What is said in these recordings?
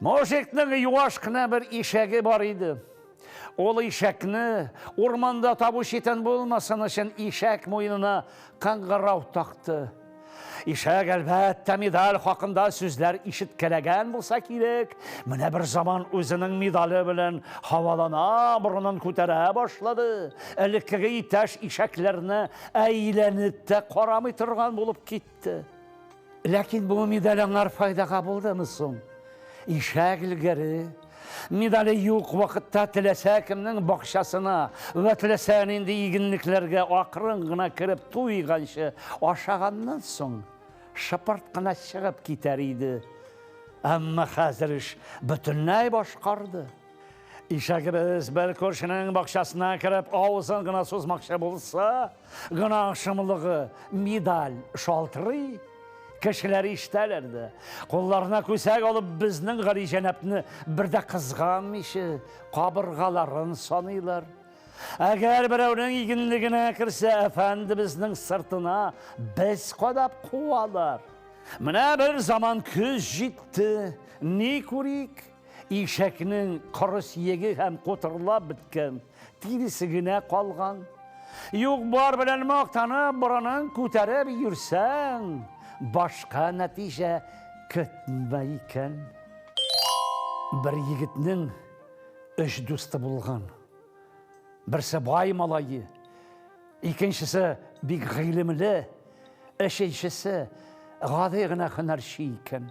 Мужикның юаш кына бер ишәге бар иде. Ул ишәкне урманда табу читен булмасын өчен ишәк муенына кыңгырау такты. Ишәк, әлбәттә, медаль хакында сүзләр ишеткәләгән булса кирәк. Менә бер заман үзенең медале белән һавалана, борынын күтәрә башлады. Элеккеге иптәш ишәкләрне әйләнеп тә карамый торган булып китте. китте. Ләкин бу медаль аңар файдага булдымы соң? Ишәк элгәре медале юк вакытта теләсә кемнең бакчасына вә теләсә нинди игенлекләргә акрын гына кереп туйганчы ашаганнан соң шыпырт кына чыгып китәр иде. Әмма хәзер эш бөтенләй башкарды. Ишәгебез бер күршенең бакчасына кереп авызын гына сузмакчы булса, Гына шомлыгы медаль шалтырый, кешеләр ишетәләр дә. Кулларына күсәк алып, безнең гали җәнәпне бер дә кызганмыйча, кабыргаларын саныйлар. Әгәр берәүнең игенлегенә керсә, әфәндебезнең сыртына без кадап куалар. Менә бер заман көз җитте, ни күрик, ишәкнең коры сиеге һәм котырлап беткән. Тиресе генә калган. Юк бар белән мактанып, борынын күтәреп йөрсәң, башка нәтиҗә көтмә икән. Бер егетнең өч дусты булган. Берсе бай малае, икенчесе бик гыйлемле, өченчесе гади генә һөнәрче икән.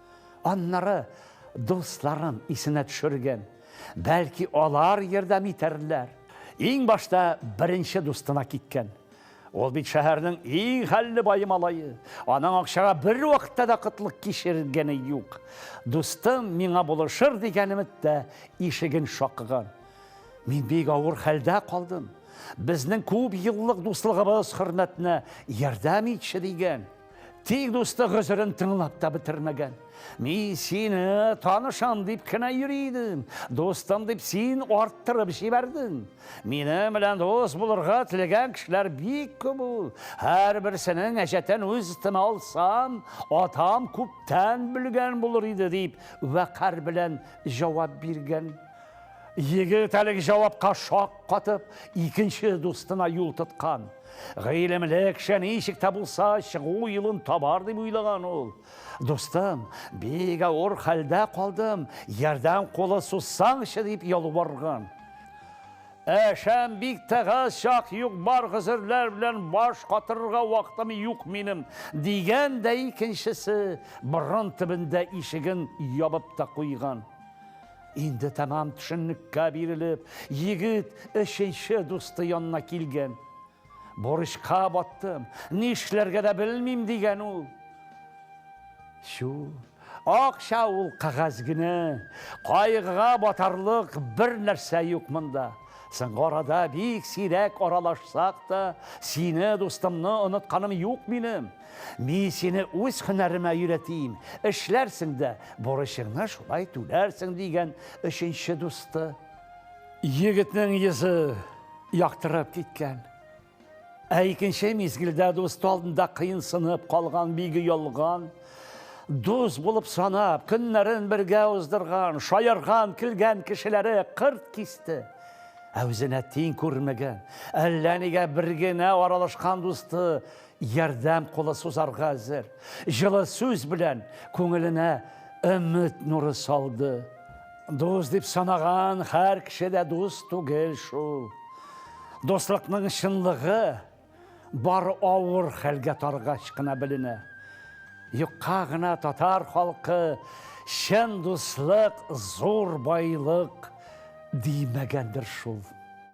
Аннары дусларын исенә төшергән. Бәлки алар ярдәм итәрләр. Иң башта беренче дустына киткән. Ул бит шәһәрнең иң хәлле бае малае. Аның акчага бервакытта да кытлык кичергәне юк. Дустым миңа булышыр дигән өмет тә ишеген шакыган. Мин бик авыр хәлдә калдым. Безнең күп еллык дуслыгыбыз хөрмәтенә ярдәм итче, дигән. Тик дусты гозерен тыңлап та бетермәгән. Мин сине танышам дип кенә йөри идем. Дустым дип син арттырып җибәрдең. Минем белән дус булырга теләгән кешеләр бик күп ул. Һәрберсенең әҗәтен үз өстемә алсам, атам күптән белгән булыр иде, дип вәкарь белән җавап биргән. Егет әлеге җавапка шак катып, икенче дустына юл тоткан. Гыйлемле кеше ничек тә булса чыгу юлын табар дип уйлаган ул. Дустым, бик авыр хәлдә калдым, ярдәм кулы сузсаңчы дип ялварган. Әшәм бик тыгыз чак юк, бар гозерләр белән баш катырырга вакытым юк минем, дигән дә икенчесе борын төбендә ишеген ябып та куйган. Инде тәмам төшеннеккә бирелеп, егет өченче дусты янына килгән. Борычка баттым, нишләргә дә белмим, дигән ул. Чу, акча ул кәгазь генә, кайгыга батарлык бер нәрсә юк монда. Соңгы арада бик сирәк аралашсак та, сине, дустымны, онытканым юк минем. Мин сине үз һөнәремә өйрәтим, эшләрсең дә, бурычыңны шулай түләрсең, дигән өченче дусты. Егетнең йөзе яктырып киткән. Ә икенче мизгелдә дусты алдында кыенсынып калган биге ялган, дус булып санап, көннәрен бергә уздырган, шаярган, көлгән кешеләре кырт кисте. Ә үзенә тиң күрмәгән, әллә нигә бер генә аралашкан дусты ярдәм кулы сузарга әзер, җылы сүз белән күңеленә өмет нуры салды. Дус дип санаган һәр кеше дә дус түгел шул. Дуслыкның чынлыгы бар авыр хәлгә таргач кына беленә. Юкка гына татар халкы чын дуслык зур байлык димәгәндер шул.